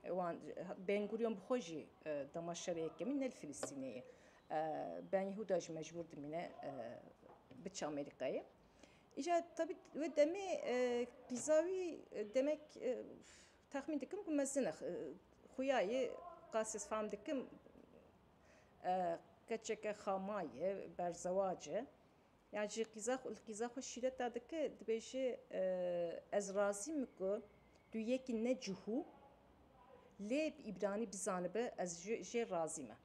Wan Ben Gurion bi xwe jî dema şerê yekemîn ne li Filistînê ye. Ben Yehuda jî mecbûr dimîne biçe Amerîkayê. Îja tabî wê demê qîza wî demek texmîn dikim ku mezin e. Xuya yê qasî ez fam dikim keçeke xama ye, berzewac e. Yan jî qîza xwe li qîza xwe şîret da dike dibêje ez razî me ku tu yekî ne cihû lê bi îbranî bizanibe ez jê razî me.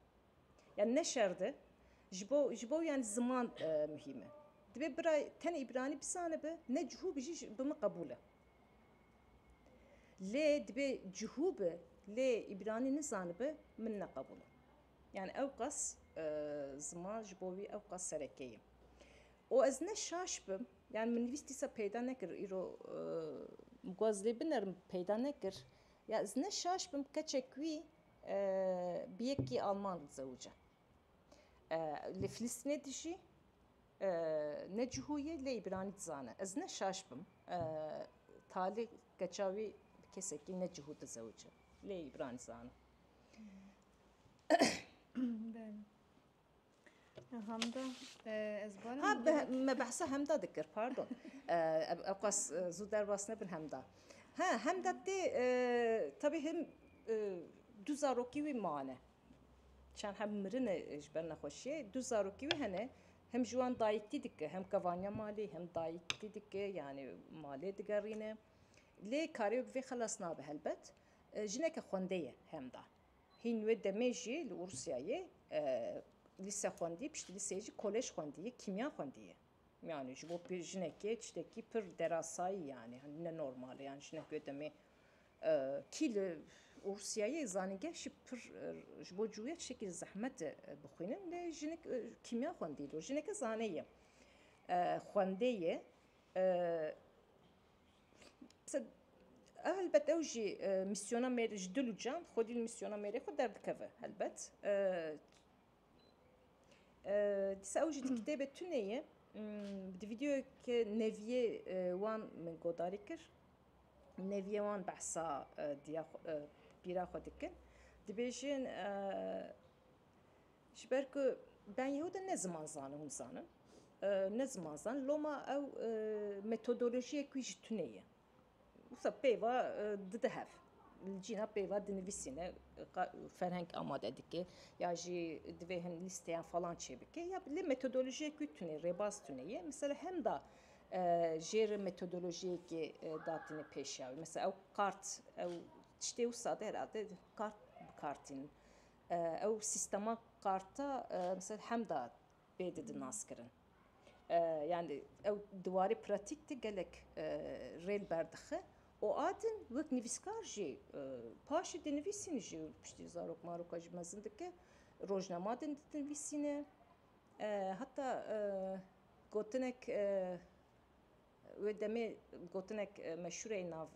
Yan ne şerd e ji bo ji bo yan ziman muhîm e. Dibê bira tenê îbranî bizanibe ne cihû bi jî bi min qebûl e. Lê dibê cihû be lê îbranî nizanibe min ne qebûl e. Yan ewqas ziman ji bo wî ewqas sereke ye. Û ez ne şaş bim, yan min nivîs dîsa peyda nekir û îro min got ez lê binerim peyda nekir. Ya ez ne şaş bim keçek wî bi yekî alman re dizewice. Li Filistînê dijî, ne cihû ye lê îbranî dizane. Ez ne şaş bim talî keça wî bi kesekî ne cihû dizewice lê îbranî dizane. Hamda ez barim. Ha me behsa hemda dikir pardon. Ew qas zû derbas nebin hemda. Ha hemda tê tabi him du zarokî wî mane. Çend hem mirine ji ber nexweşiyê du zarokî wî hene hem ji wan dayîktî dike hem kevaniya malê hem dayîktî dike yanî malê digerîne. Lê karê bi vê xelas nabe helbet jineke xwendê ye hemda. Hîn wê demê jî li Ûrûsyayê lîse xwendî, piştî lîseyê jî kolej xwendî, kîmya xwendî ye. Yanî ji bo jinekê tiştekî pir derasayî yanî ne normal e. Yanî jinek wê demê kî li Ûrûsyayê zanîngeh jî pir ji bo cûye tiştekî li zehmet e bixwînin lê jinik kîmya xwendî dû. Jineke zane ye, xwendê ye. Helbet ew jî mîsyona mêrê ji dil û can xwedî li mîsyona mêrê xwe derdikeve helbet. Dîsa ew jî di kitêbê tune ye di vîdeoyeke neviyê wan min guhdarî kir. Neviyê wan behsa diya pîra xwe dikin dibêjin Ji ber ku ben yê hûdin ne ziman zanin hûn zanin ne ziman zanin loma ew metodolojiyek wî ji tune ye wisa pêva dide hev li cîna pêva dinivîsîne ferheng amade dike ya jî divê hin lîsteyan falan çêbike ya lê metodolojiyek wî tune ye rêbaz tune ye misal hemda jêr metodolojiyekê datîne pêşiya wî misal ew kart ew tiştê wisa de herhalde kart bikartînin. Ew sîstema karta misal hemda pê didin naskirin. Yani ew di warê pratîk de gelek rê li ber dixe û a din wek nivîskar jî paşê dê nivîsîn jî piştî zarok maroka jî mezin dike. Rojnama din dinivîsîne heta gotinek Wê demê gotinek meşhûr ê nav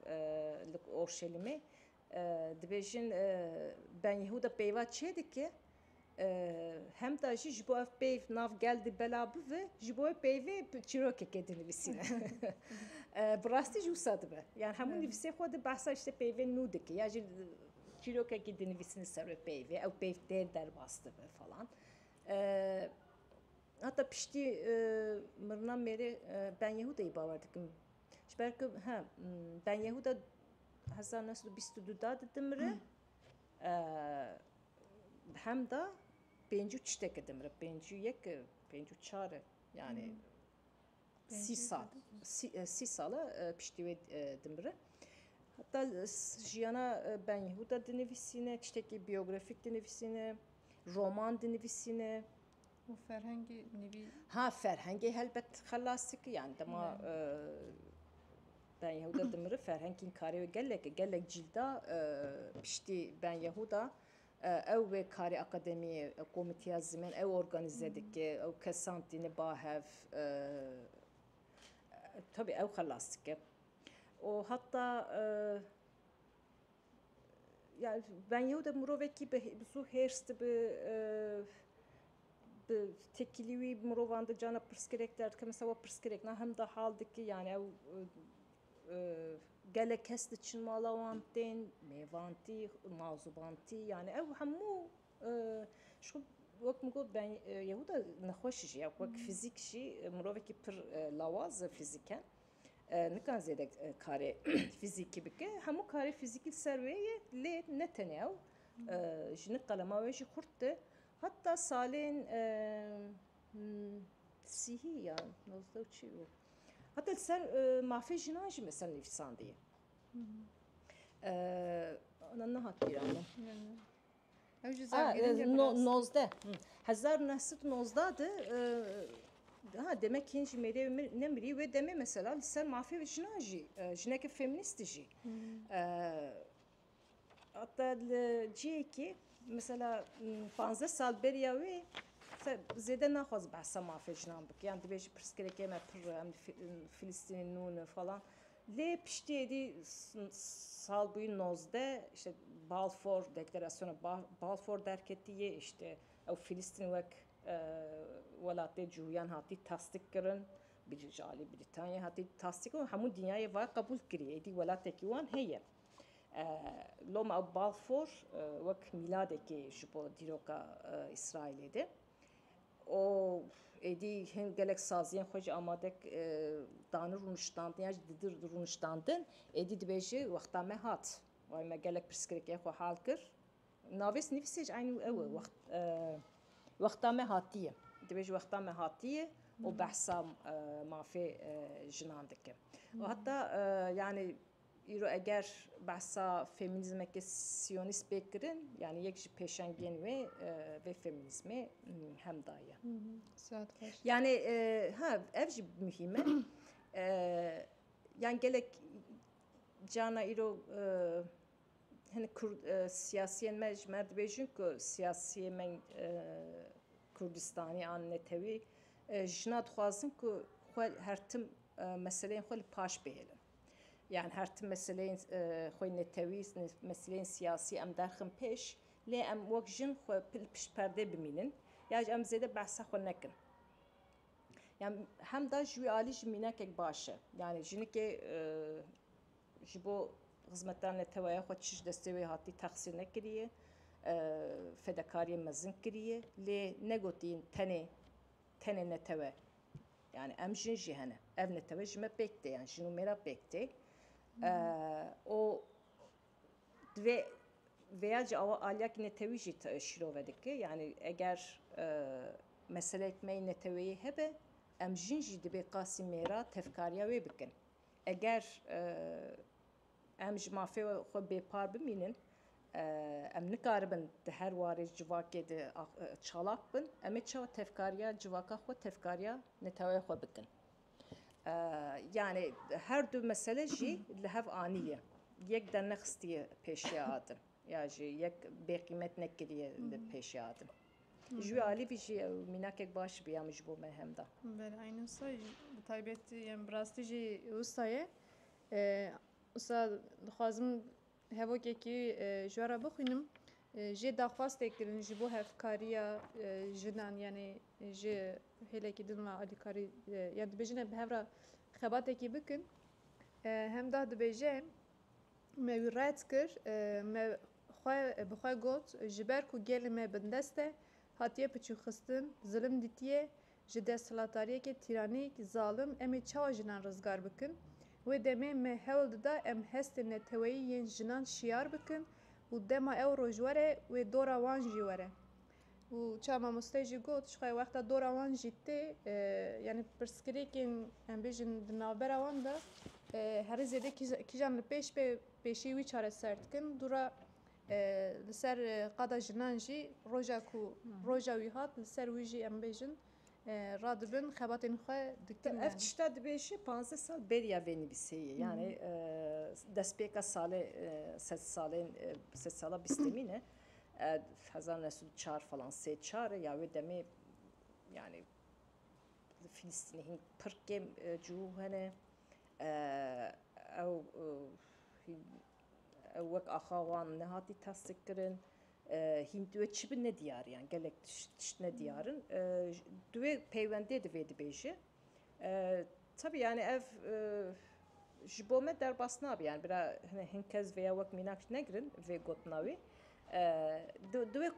li Orşelîmê dibêjin Ben Yehuda peyva çê dike hemda jî ji bo ev peyv nav gel di bela bive ji bo wê peyvê çîrokekê dinivîsîne. Bi rastî jî wisa dibe. Yan hemû nivîsê xwe di behsa îşte peyvên nû dike ya jî çîrokekî dinivîsîne ser wê peyvê ew peyv tê derbas dibe falan. Heta piştî mirina mêrê Ben Yehûdayî bawer dikim. Ji ber ku he Ben Yehûda hezar neh sed û bîst û du da dimire di hem da pêncî û çiteke dimire pêncî û yek pêncî û çar e yanî sî sal sî sal e piştî wê dimire. Heta jiyana Ben Yehûda dinivîsîne, tiştekî biyografîk dinivîsîne, roman dinivîsîne. Û ferhengê nivî? Ha ferhengê helbet xelas dike yan dema ben Yehuda dimire ferhengên karê wê gelek gelek cîlda piştî ben Yehuda ew wê karê akademî komîteya zimên ew organîze dike ew kesan tîne ba hev tabi ew xelas dike û heta Yani ben yew de mirovekî bi zû hêrs dibi bi tekîlî wî mirovan di cana pirsgirêk derdike mesela we pirsgirêk na him da hal dikî yani ew gelek kes diçin mala wan tên mêvantî mazûbantî yani ew hemû ji xwe wek min got ben yew de nexweş jî ye wek fîzîk jî mirovekî pir lawaz e fîzîken. Nikare zêde karê fîzîkî bike. Hemû karê fîzîkî li ser wê ye lê ne tenê ew. Ji nik qelema wê jî xurt di. Heta salên sîhî ya nozde û çi û heta li ser mafê jinan jî mesela nivîsandiye. Ana nehat bîra min. Ew ji zargirîngê bi rast. Nozdeh hezar û neh sed û nozdeh de ha demek hîn jî mêrê wê nemirî wê demê mesela li ser mafê jinan jî jineke femînîst jî heta li cihekê mesela panzdeh sal beriya wê zêde naxwaz behsa mafê jinan bike yan dibêje pirsgirêkê me pir e em li Filistînê nûn in falan. Lê piştî êdî salbûyî nozdeh îşte Balfour Dekleresyona Balfour derketîye îşte ew Filistînê wek welatê cûyan hatî tasdîk kirin bi ji alî Brîtanyayê hatî tasdîk kirin û hemû dinyayê vay qebûl kirî êdî welatekî wan heye. Lo ma ew Balfour wek mîladekê ji bo dîroka Îsraîlê de û êdî hin gelek saziyên xwe jî amade dane rûniştandin yan jî didin rûniştandin. Êdî dibêje wexta me hat wayî me gelek pirsgirêkên xwe hal kir. Navê nivîsê jî eynî ew e wexta me hatiye. Dibêje wexta me hatiye û behsa mafê jinan dikim. Heta yanî Îro eger behsa femînîzmeke sîyonîst bê kirin, yanî yek ji pêşengên wê vê femînîzmê hemda ye. Yanî ha ev jî muhîm e. Yan gelek cana îro hin kurd siyasiyên me ji me dibêjin ku siyasiyê me Kurdistanî an netewî jina dixwazin ku xwe her tim meseleyên xwe li paş bihêlin. Yan her tim meseleyên xwe netewî, meseleyên siyasî em derxin pêş lê em wek jin xwe li pişt perdê bimînin ya jî em zêde behsa xwe nekin. Yan hemda ji wî alî jî mînakek baş e. Yanî jinikê ji bo xizmeta neteweya xwe çi ji destê wê hatî texsîr nekiriye, fedekariyên mezin kiriye lê negotiye tenê tenê netewe. Yanî em jin jî hene. Ev netewe ji me pêk tê yan jin û mêra pêk tê. Û divê vêya jî awa aliyakî netewî jî şîrove dike. Yanî eger meseleyek me yê neteweyî hebe em jin jî dibê qasî mêra tevkariya wê bikin. Eger Em ji mafê xwe bêpar bimînin, em nikaribin di her warê civakê de çalak bin. Em ê çawa tevkariya civaka xwe, tevkariya neteweyê xwe bikin? Yanî her du mesele jî li hev anîye. Yek dernexistiye pêşiya adin ya jî yek bêqîmet nekiriye li pêşiya adin. Ji wî alî vî jî ew mînakek baş bû ya min ji bo me hem da. Bele, eynû wisa jî bi taybetî, yan bi rastî jî wisa ye. Usta dixwazim hevokekî ji we re bixwînim. Jê daxwaz tê kirin ji bo hevkariya jinan yanê ji hêlekî din ve alîkarî yan dibêjin em bi hev re xebatekî bikin. Hemdah dibêje me wî red kir me xwe bi xwe got ji ber ku gelê me bindest e hatiye piçûxistin, zilim dîtiye Ji desthilatariyekê tîraniyek zalim em ê çawa jinan rizgar bikin? Wê demê me hewl dida em hestên neteweyî yên jinan şiyar bikin û dema ew roj were wê dora wan jî were. Û çawa mamosteyê jî got, jixwe wexta dora wan jî tê, yanî pirsgirêkên em bêjin di navbera wan de herî zêde kîjan li pêş be pêşî wî çareser dikin, dû re Li ser qada jinan jî roja ku roja wî hat li ser wî jî em bêjin radibin xebatên xwe dikin. Ev tişta dibêje panzdeh sal bêriya vê nivîsê ye yanî destpêka salê sed salên sed sala bîstemîn e hezar û neh sed û çar falan sê çar e ya wê demê yanî li fîlîstînê hîn pir kêm cihû hene ew Ew wek axa wan nehatî tasdik kirin. Hîn di wê çi bin ne diyar yan gelek tişt ne diyar in. Di wê peywendê de vê dibêje. Tevî yanî ev ji bo me derbas nabe yan bira hin kes vêya wek mînak negirin vê gotina wî. Di wê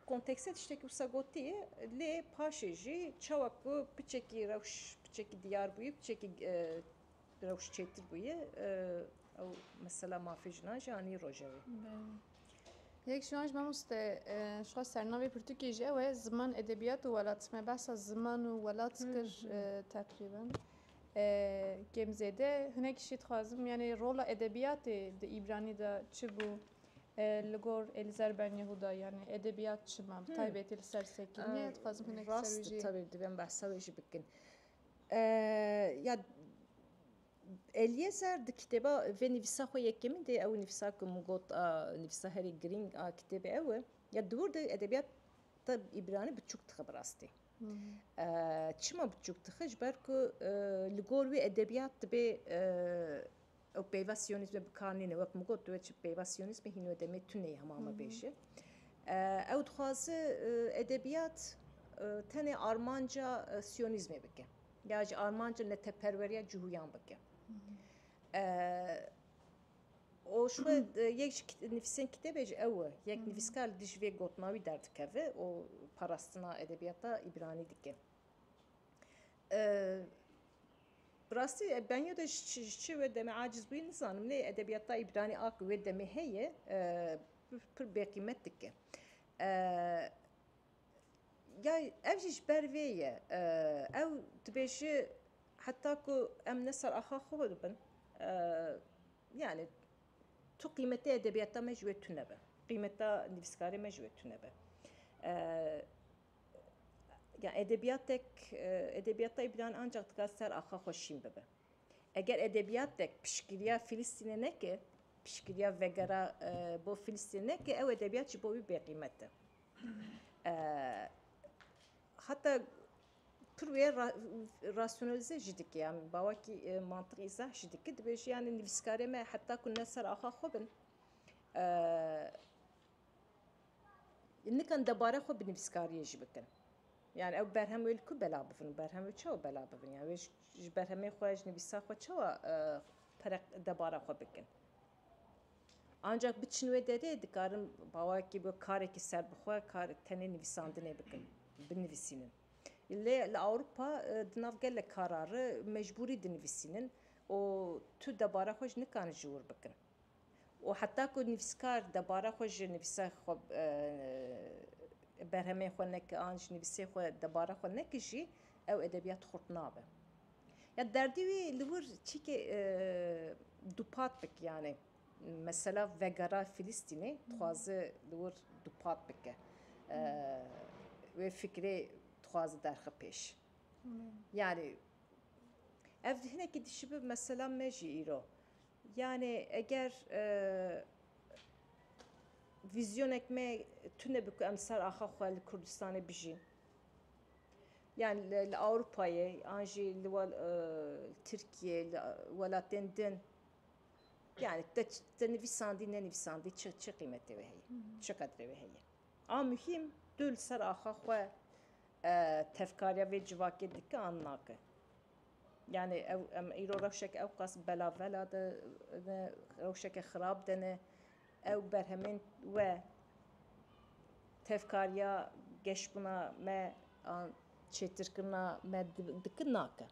konteksê tiştekî wisa gotiye lê paşê jî çawa ku piçekî rewş piçekî diyar bûye piçekî Rewş çêtir bûye ew mesela mafê jinan jî anî rojevê. Yek ji wan ji mamoste ji xwe sernavê pirtûkê jî ew e ziman edebiyat û welat me behsa ziman û welat kir teqrîben. Kêm zêde hinekî jî dixwazim yanê rola edebiyatê di îbranî de çi bû li gor Elîzer Ben Yehuda yanê edebiyat çima bi taybetî li ser sekiniyê dixwazim hinek li ser wî jî. Rast e tevî divem behsa wê jî bikin. Ya Elîezer di kitêba vê nivîsa xwe yekemîn de ew nivîsa ku min got a nivîsa herî girîng a kitêbê ew e. Ya di wir de edebiyat ta îbranî biçûk dixe bi rastî. Çima biçûk dixe ji ber ku li gor wî edebiyat dibê Ew peyva siyonîzmê bi kar nîne. Wek min got, wê çi peyva siyonîzmê hîn wê demê tune ye hema me bêje. Ew dixwaze edebiyat tenê armanca siyonîzmê bike ya jî armanca neteperweriya cihuyan bike. O ji xwe yek ji nivîsên kitêbê jî ew e. Yek nivîskar li dijî vê gotina wî derdikeve û parastina edebiyata îbranî dike. Bi rastî beniya te ji çi wê demê aciz bûyî nizanim lê edebiyata îbranî a ku wê demê heye pir bêqîmet dike. Ya ev jî ji ber vê ye ew dibêje heta ku em ne ser axa xwe bin yanî tu qîmetê edebiyata me ji wê tune be, qîmeta nivîskarê me ji wê tune be. ya edebiyatek edebiyat tayê bilan ancak dikar ser axa xwe şîn bibe. Eger edebiyatek piştgiriya Filistînê neke, piştgiriya vegera bo Filistînê neke ew edebiyat ji bo wî bêqîmet e. Heta pir wê rasyonalize jî dike yan bawekî mantiq îzah jî dike dibêje yanî nivîskarê me heta ku ne ser axa xwe bin Nikan debare xwe bi nivîskariyê jî bikin. Yan ew berhem wê li ku bela bivin û berhem wê çawa bela bivin? Yan wê ji berhemê xwe, ji nivîsa xwe çawa perek debara xwe bikin? Ancak biçin wê derê dikarin bawekî bi karekî serbixwe kar tenê nivîsandinê bikin, binivîsînin. Lê li Ewropa di nav gelek kara re mecbûrî dinivîsînin û tu debara xwe jî nikarin ji wir bikin. Û heta ku nivîskar debara xwe ji nivîsa xwe berhemên xwe neke an ji nivîsê xwe debara xwe neke jî ew edebiyat xurt nabe. Ya derdê wî li wir çîkê dupat bike yanê mesela vegera Filistînê dixwaze li wir dupat bike wê fikrê dixwaze derxe pêş. Yanî ev hinekî dişibe mesela me jî îro Yanê eger vîzyonek me tune bi ku em ser axa xwe li Kurdistanê bijîn yan li Ewropayê yan jî li Tirkiyê li welatên din yanî te nivîsandî nenivîsandî çi çi qîmetê wê heye çi qedrê wê heye. A muhîm tu li ser axa xwe tevkariya vê civakê dike an nake. Yanî ew em îro rewşeke ewqas belavela de ne, rewşeke xirab de ne. Ew berhemên we tevkariya geşbûna me an çêtirkirina me dikin nake.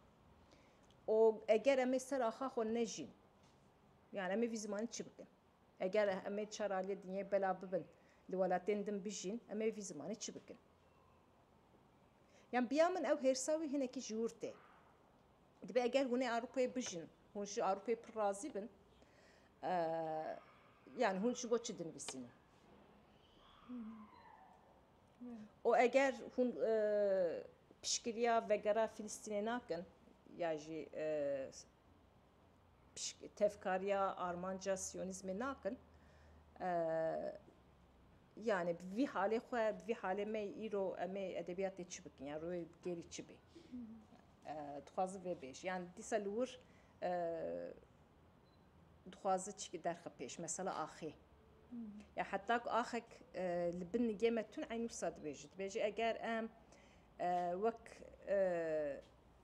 Û eger em ê ser axa xwe nejîn, yani em ê vî zimanî çi bikin? Eger em ê çar aliyê dinyayê belav bibin, li welatên din bijîn, em ê vî zimanî çi bikin? Yan biya min ew hêrsa wî hinekî ji wir tê. Dibe eger hûn ê Ewropayê bijîn, hûn ji Ewropayê pir razî bin, yan hûn ji bo çi dinivîsînin? û eger hûn piştgiriya vegera Filistînê nakin ya jî Pişk tevkariya armanca siyonîzmê nakin. Yanî bi vî halê xwe, bi vî halê me îro em ê edebiyatê çi bikin yan rûyê gêrî çi bê. Dixwazin vê bêjin. Yan dîsa li wir dixwazin çikî derxe pêş. Mesela axê. Ya heta ku axek li bin nigê me tune eynû wisa dibêje. Dibêje eger em wek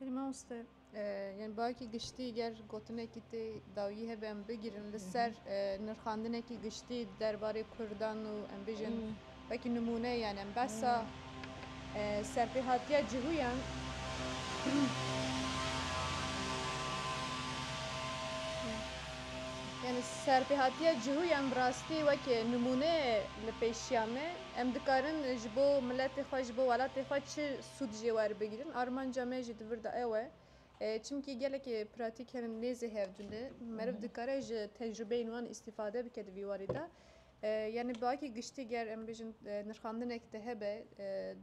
Belê mamoste yani bayekî giştî ger gotinekî tê dawî hebe em bigirin li ser nirxandinekî giştî derbarê Kurdan û em bijin wekî nimûne yani em behsa serpêhatiya cihûyan yani serpêhatiya cihûyan bi rastî wekî nimûne li pêşiya me Em dikarin ji bo miletê xwe, ji bo welatê xwe çi sûd jê werbigrin. Armanca me jî di vir de ew e. Çimkî gelekî pratîk hene nêzî hevdû ne. Meriv dikare ji tecrûbeyên wan îstîfade bike di vî warî de. Yanî bi akê giştî ger em bêjin nirxandinek di hebe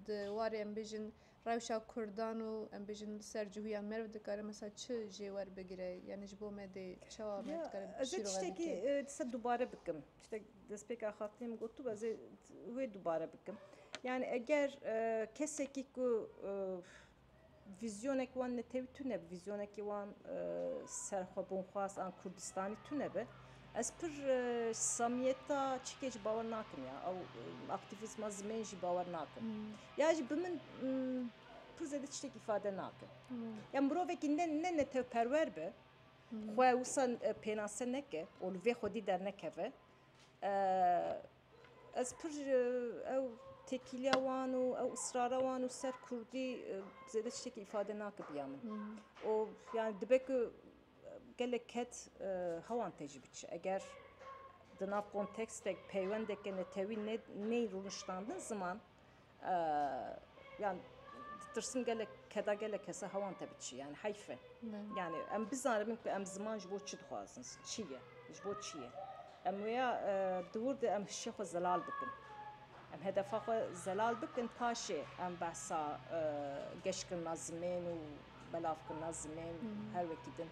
di warê em bêjin Rewşa Kurdan û em bêjin li ser cihûya merv dikare mesela çi jê werbigire? Yanî ji bo me dê çawa me dikare şîrove bikin? Ez ê tiştekî ti ser dubare bikim. Tiştek destpêka xatinê min gotibû ez ê wê dubare bikim. Yanî eger kesekî ku vîzyonek wan netewî tune bi, vîzyonekî wan serxwebûnxwaz an Kurdistanî tune bi, Ez pir samiyeta çîkê jî bawer nakim ya ew aktivîzma zimên jî bawer nakim. Ya jî bi min pir zêde tiştek îfade nake. Ya mirovekî ne ne netewperwer be xwe wisa pênase neke û li vê xwedî dernekeve ez pir ew têkîliya wan û ew israra wan û ser kurdî zêde tiştekî îfade nake biya min û yani dibe ku Gelek ket hewan tê jî biçe. Eger di nav kontekstek, peywendeke netewî neyên rûniştandin ziman, yan ditirsim gelek keda gelek kesa hewan te biçi. Yani heyf e. Yani em bizanimin ku em ziman ji bo çi dixwazin, çi ye, ji bo çi ye. Em wêya di wir de em hişê xwe zelal bikin. Em hedefa xwe zelal bikin paşê em behsa geşkirina zimên û Belavkirina zimên her wekî din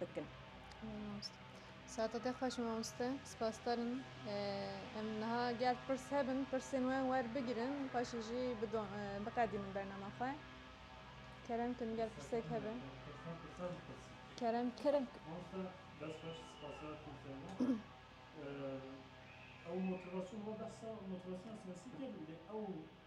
bikin. Saeta te xweş mamoste. Spasdar in. Em niha ger pirs hebin pirsên wan werbigirin paşê jî biqedînin bernama xwe. Kerem kin ger pirsek hebe. Kerem kerem. Mamoste dest xweş spasdar kin fêrma. Ew motivasyona behsa motivasyona siyasî kir lê ew